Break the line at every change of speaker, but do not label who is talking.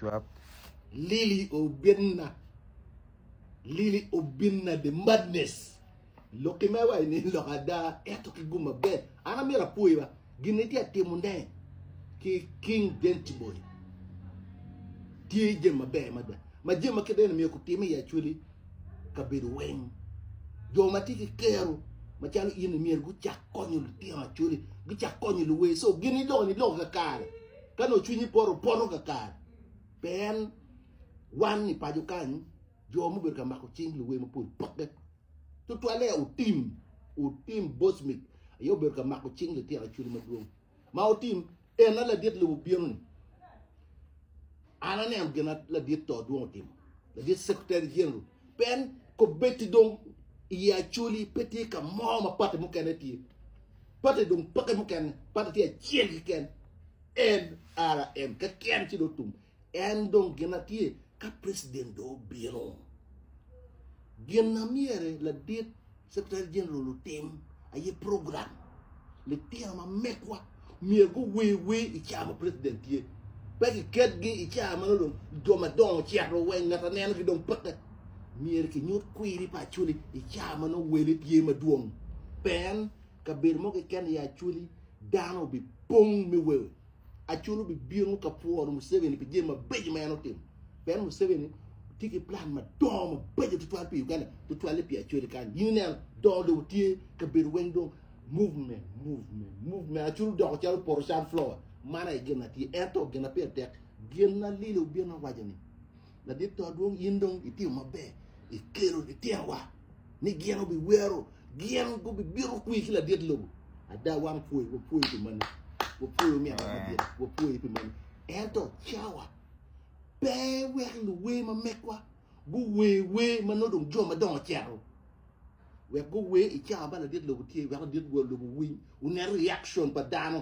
Cwap. Lili
obinna Lili obinna the madness lok ki mewa i nin lok ada eto ki gum maber an amyero apwoyi ba gin ni tye timo ne ki king dent boy tye jem maber mada ma jem ma kideno miyo kutime i acweli kabedo weng jo ma tye ki kero macalo in myero gucak konyo lutino acweli gucak konyo luwe so gin ni lok ni lok kakare Ka nongo cwinyi poto, poto kakare. Pien wan i paco kany, jo mubedo ka mako cing luwe mapol pokke. Tutwalle otim, otim Bosmic aye obedo ka mako cing litino Acholi madwong. Ma otim, en a ladit lobo bino-ni. An aneno gin a ladit to dwong otimo, ladit Secretary General Pien kobbetti dong i yi Acoli pe tye ka mo ma pati mukene tye. Pati dong peke mukene, pati tye acel keken, NRM keken ci dong tum. En dong gin na tye ka President dong obino. Gin na myere ladit Secretary General otim aye program litino ma mekwa myero guwer wer i car ma president tye. Pe giketgi i car ma dong jo madongo cito wa i ngat aneno ki dong peke. Myero kinyut kwiri pa Acholi i car ma nongo wele tye madwong. Pe en kabedo mo keken i Acholi dano obipong me wer. Acol obibino ka pworo Museveni pi jami mabeco ma en otimo. Pien Museveni tye ki plan madongo mabeco tutwal pi Uganda, tutwalle pi Acoli kany. In ineno, dongo dong tye kabedo weng dong movement, movement, movement. Acol odoko calo opoto sunflower. Man aye gin na tye. Ento gin na pire tek, gin na Lili obino awaco ni, Ladit to adwong in dong itiyo maber ikelo litinowa ni gin obi wero gin gubi bito kwi ki ladit lobo ada wan pwoyo wa pwoyo pi mani wa pwoyo mi ada madit wa pwoyo pi mani ento cawa pe wek luwe ma mekwa guwe we ma no dong jo ma dongo cero wek guwe i cawa ba ladit lobo tye wek ladit lobo winy unet reaction pa dano